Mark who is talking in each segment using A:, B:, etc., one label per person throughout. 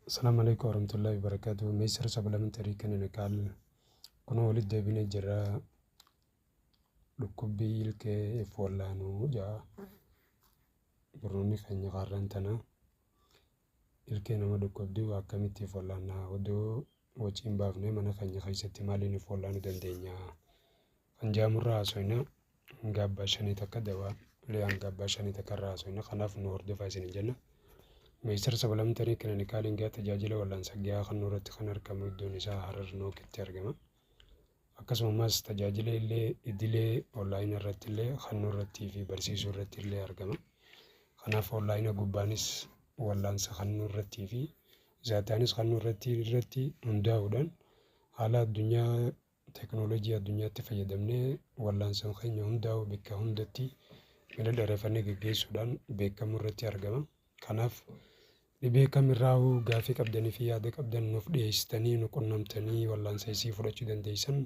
A: Assalaamu Aleykum Warahmatullahi Wabarakatuh Meesir Sabalamentary Clinical Kunoo walitti deebinee jirra dhukkubbii ilkee if wallaanuu ja'a barnoonni keenya kaarraan tana ilkee nama dhukkubduu akkamitti if wallaannaa odoo wacii hin baafne mana keenya keessatti maaliin if wallaanuu dandeenya kan jaamurraa haasoyna Hanga abbaa shanii takka dawaa ulee hanga abbaa shanii takka irraa haasofna. Kanaaf nu hordofaa isiniin jenna. Meestar sabalamtanii kilinikaaliin gahaa tajaajila wal'aansa gahaa kan irratti kan argamu iddoon isaa Harar Nookitti argama. Akkasumas tajaajila illee idilee onlaayina irratti illee kan irratti fi barsiisuu irratti illee argama. Kanaaf onlaayina gubbaanis wal'aansa kan irratti fi zaataanis kan irratti irratti hundaa'uudhaan haala addunyaa Teknolojii addunyaatti fayyadamnee wal'aansan keenya hundaa'u bakka hundatti mala dheerefannee geggeessuudhaan beekamuu irratti argama. Kanaaf dhibee kamirraahu gaafii qabdanii fi yaada qabdan nuuf dhiyeessitanii nu qunnamtanii wal'aansa isii fudhachuu dandeessan.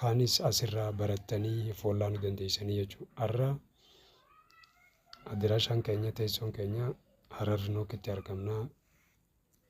A: Kaanis asirraa barattanii of wal'aanuu dandeessanii jechuudha. Har'a adiraashaan keenya teessoon keenya Harar Nookitti argamna.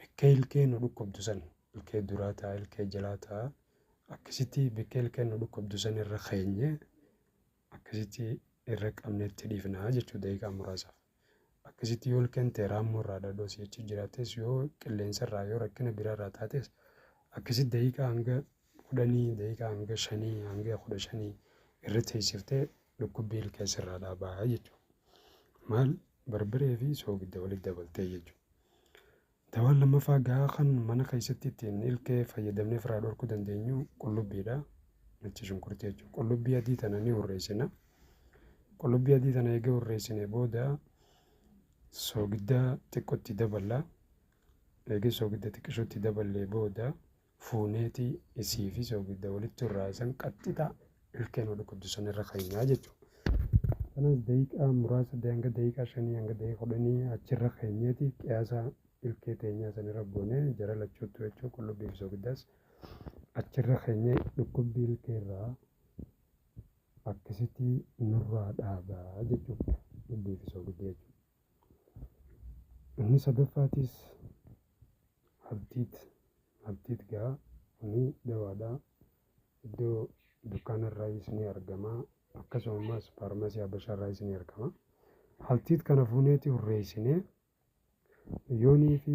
A: Bekkee ilkee nu dhukkubdu san ilkee duraa taa ilkee jalaa taa akkasitti bekkee ilkee nu dhukkubdu san irra keenye akkasitti irra qabnetti dhiifnaa jechuu daqiiqaa muraasaaf. Akkasitti yoo ilkeen tee raammoo irraa dhadhoo si jechi jiraates yoo qilleensa irraa yoo rakkina biraa irraa taates akkasitti daqiiqaa hanga kudhanii daqiiqaa hanga shanii hanga kudha shanii irra teessiftee dhukkubbii ilkee sirraa dhaabaa jechuudha. Maal barbaree fi soogidda walitti dabaltee jechuudha. Dawaan lammaffaa gahaa kan mana keessatti ittiin ilkee fayyadamnee ofirraa dhorkuu dandeenyu qullubbiidha. Nacha shunkurtii jechuudha. Qullubbii adii tana ni hurreessina. Qullubbii adii tana eega hurreessine booda soogidda xiqqootti daballa. Eega soogidda xiqqishootti daballee booda fuuneeti isii fi soogidda walitti irraa isan qaxxita ilkeen wal qabdu san irra keenyaa jechuudha. Kanas daqiiqaa muraasa hanga daqiiqaa shanii hanga daqiiqaa kudhanii achirra keenyeeti qiyaasa ilkee teenyaa san irra goonee jara lachuuttu jechuudha qullubbii fi soogiddaas achirra keenyee dhukkubbii ilkee irraa akkasitti nurraa dhaabaa jechuudha. Dhukkubbii fi soogidda jechuudha. Inni sadaffaatiis abdiiti. Abdiit gaa kuni dawaadha. Iddoo dukkaana irraayis ni argama. Akkasuma ammaas faarmasii habashaa irraayis ni argama. Haltiit kana fuuneeti hurreessinee yoonii fi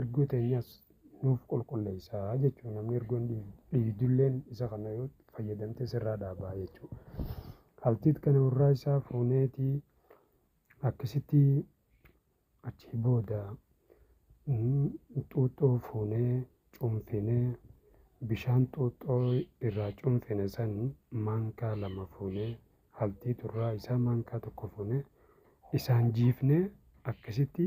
A: Irguu teenyas nuuf qulqulleessa jechuudha. Namni irgoon dhiigdulleen isa kana yoo fayyadamte sirraa dhaabaa jechuudha. Haltiit kana warraa isaa fuuneeti akkasitti achii booda xuuxxoo fuunee cunfinee bishaan xuuxxoo irraa cunfine san maankaa lama fuunee haltii turraa isaa maankaa tokko fuunee isaan jiifnee akkasitti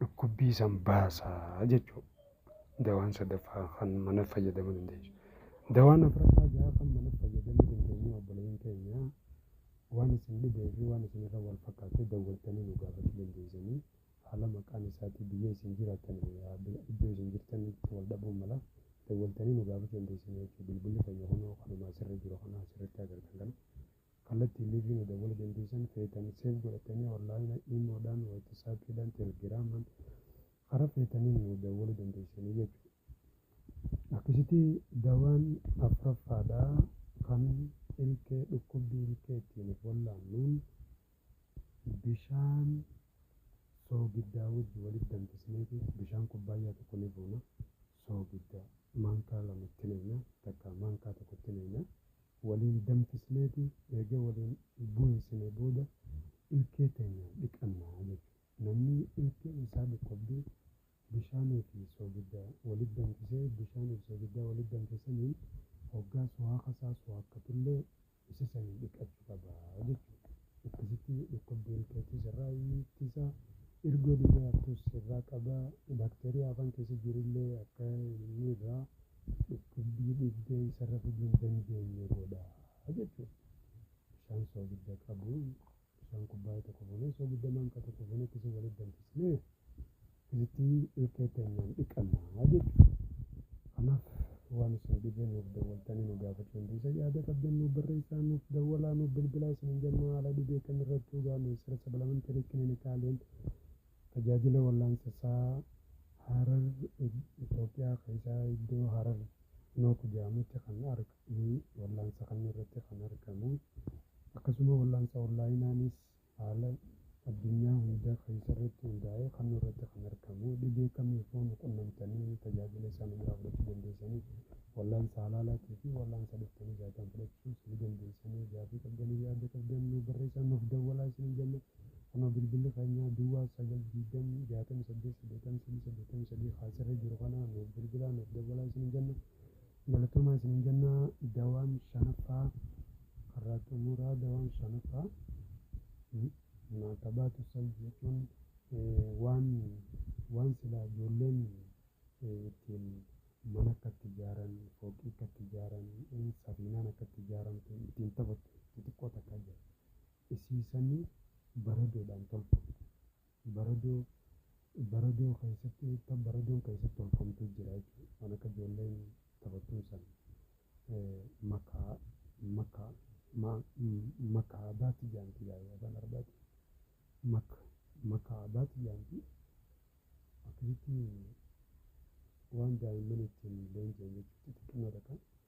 A: dhukkubbii san baasa jechuu dawaan sadaffaa kan mana fayyadamuu dandeessu. Dawaan afraffaa gaafa mana fayyadamuu dandeenyu obboleeyyan keenya waan isin dhibee fi waan isin irra wal fakkaatee dawwattanii nu gaafachuu dandeessanii haala maqaan isaatii biyya isin jiraattan iddoo isin jirtanitti wal dhabuu mala dawwaltanii nu gaafachuu dandeessanii jechuudha. Bilbilli keenya kunoo kanuma asirra jiru kana asirratti agartan kana. Kallattii live nu dawwala dandeessan feetani save godhatani online imo dhaan whatsapp dhaan telegraman kara feetaniin nu dawwala dandeessani jechu. Akkasiti dawaan afraffaadha kan ilkee dhukkubbii ilkee ittiin of wallaannuun bishaan soogiddaa wajji walit danfisneeti bishaan kubbaayyaa tokko ni fuuna soogidda maankaa lama itti nayna takka maankaa tokko itti nayna Waliin danfisneeti eega waliin buunsine booda ilkee teenyaan dhiqanna jechu. Namni ilkee isaa dhukkubdu bishaanii fi soogidda walit danfisee bishaanii fi soogidda walit danfe saniin hoggaa suhaaka isaa suhaakkatullee isa saniin dhiqachu qaba jechu. Akkasitti dhukkubbii ilkeetiis irraa ittisa, irgoo dhibee hattuus irraa qaba, baakteeriyaa afaan keessa jirullee akka inni irraa. dhukkubbii dhibdee isa rafuu hin dandeenye godha jechuudha. Bishaan soogidda qabu bishaan kubbaayee tokko fuunee soogidda maankaa tokko fuunee akkasii walitti danfisnee itti ilkee teenyaan dhiqannaa jechuudha. Kanaaf waan isin dhibee nuuf dawwaltanii nu gaafachuu hin dhiisa yaada qabdan nuuf barreessaa nuuf dawwalaa nuuf bilbilaa isin hin jennu haala dhibee kan irratti dhugaa ministeera sabalamenteerii kilinikaaleen Tajaajila Wallaansa Saa Harar Itoophiyaa keessaa iddoo Harar Nook jedhamutti kan argamu wallaansa kan irratti kan argamu akkasuma wallaansa onlaayinaanis haala addunyaa hunda keessarratti hundaa'ee kan irratti kan argamu dhibee kamiifuu nu qunnamtanii tajaajila isaa nu biraa fudhachuu dandeessanii wallaansa halaalaatii fi wallaansa dhuftanii zaataan fudhachuus ni dandeessanii gaafii qabdanii yaada qabdan nu barreessaa nuuf dawwalaa isin jenna Kunoo bilbilli keenya duwwaa 9 20 68 83 83 ka asirra jiru kana nuuf bilbilaa nuuf dawwalaa isiniin jenna. Galatoomaa isiniin jenna dawaan shanaffaa har'aa xumuraa dawaan shanaffaa maatabaatu salb jechuun waan waan silaa ijoolleen ittiin mana akka itti ijaaran fooqii akka itti ijaaran safiinaan akka itti ijaaramtu ittiin taphattu xixiqqoo takka jira. isiisanii baradoodhaan tolfamu. Baradoo baradoo keessatti wanta baradoon keessatti tolfamtu jira jechuudha. Waan akka ijoolleen taphattuun san makaa makaa makaa baatti jaanti gaa'ee afaan arbaati. Maka makaa baatti jaanti akkasitti waan daa'imman ittiin leenji'an jechuudha xixiqqinoo takka.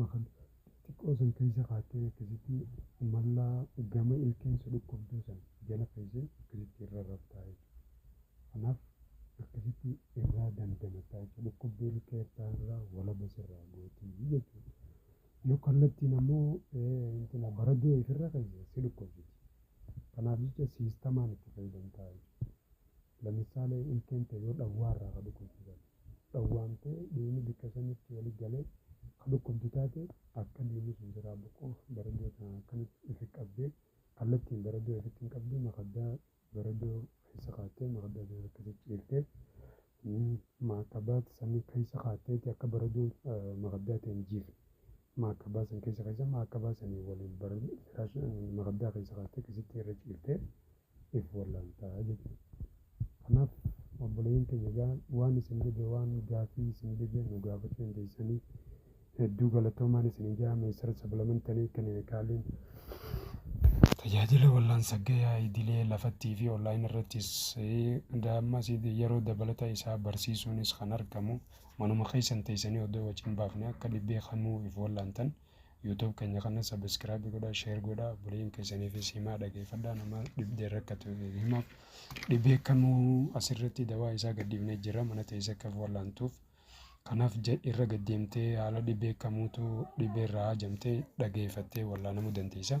A: Makan xixiqqoo san keessa kaattee akkasitti mallaa gama ilkeen si dhukkubduu san jala keessee akkasitti irra raftaa jechuudha. Kanaaf akkasitti irraa dandamattaa jechuudha. Dhukkubbii ilkee irraa irraa walaba sirraa gootii jechuudha. Yoo kallattiin ammoo intina baraduu ifirra keessa si dhukkubsiti. Kanaaf jecha siistamaan itti fayyadamtaa jechuudha. Lamisale ilkeen tee yoo dhawwaa irraa ka dhukkubdu taate, dhawwaamtee dhiigni bikka sanitti wali galee ka dhukkubdu taate, akka dhiigni sun siraa buqqu baradoo tanaan akkanatti ufi qabdee, kallattiin baradoo ufitti hin qabduu makaddaa baradoo keessa kaattee makaddaa san irra keessa ciiftee, maakabaat san keessa kaatteeti akka baradoo makaddaa tee hin jiifne maakabaa san keessa keessa maakabaa saniin waliin bara firaasha makaddaa keessa kaattee keessatti irra ciiftee. if wallaalta jechuudha. Kanaaf obboleeyyan keenya egaa waan isin dhibe waan gaafii isin dhibe nu gaafachuu dandeessanii hedduu galatoomaan isin jaa meessara sablamantanii kaniin kaaliin tajaajila wallaansa gayaa idilee lafattii fi online irrattis daammas yeroo dabalata isaa barsiisuunis kan argamu manuma keessan teessanii odoo waciin baafne akka dhibbee kamuu if wallaantan YouTube keenya kana subscribe godhaa share godhaa obboleeyyan keessaniifis himaa dhageeffadhaa nama dhibdee rakkatu himaaf dhibee kamuu asirratti dawaa isaa gadhiifnee jira mana teessee akka wallaantuuf kanaaf irra gaddeemtee haala dhibee kamuutu dhibee irraa haajamtee dhageeffattee wallaanamuu dandeessa.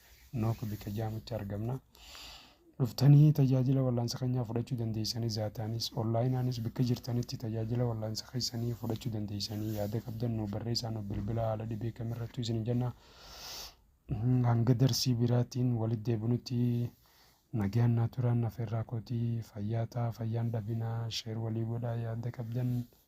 A: Nook bika jaamutti argamna. Dhuftanii tajaajila wallaansa keenyaa fudhachuu dandeessanii zaataanis onlaayinaanis bikka jirtanitti tajaajila wallaansa keessanii fudhachuu dandeessanii yaada qabdan nu barreessaa nu bilbila haala dhibee kamirrattuu isin jenna. Hanga darsii biraatiin walitti deebinutti nagaan naa turaan afeerraa kootii fayyaa ta'a fayyaan dhabinaa sheer walii godhaa yaada qabdan.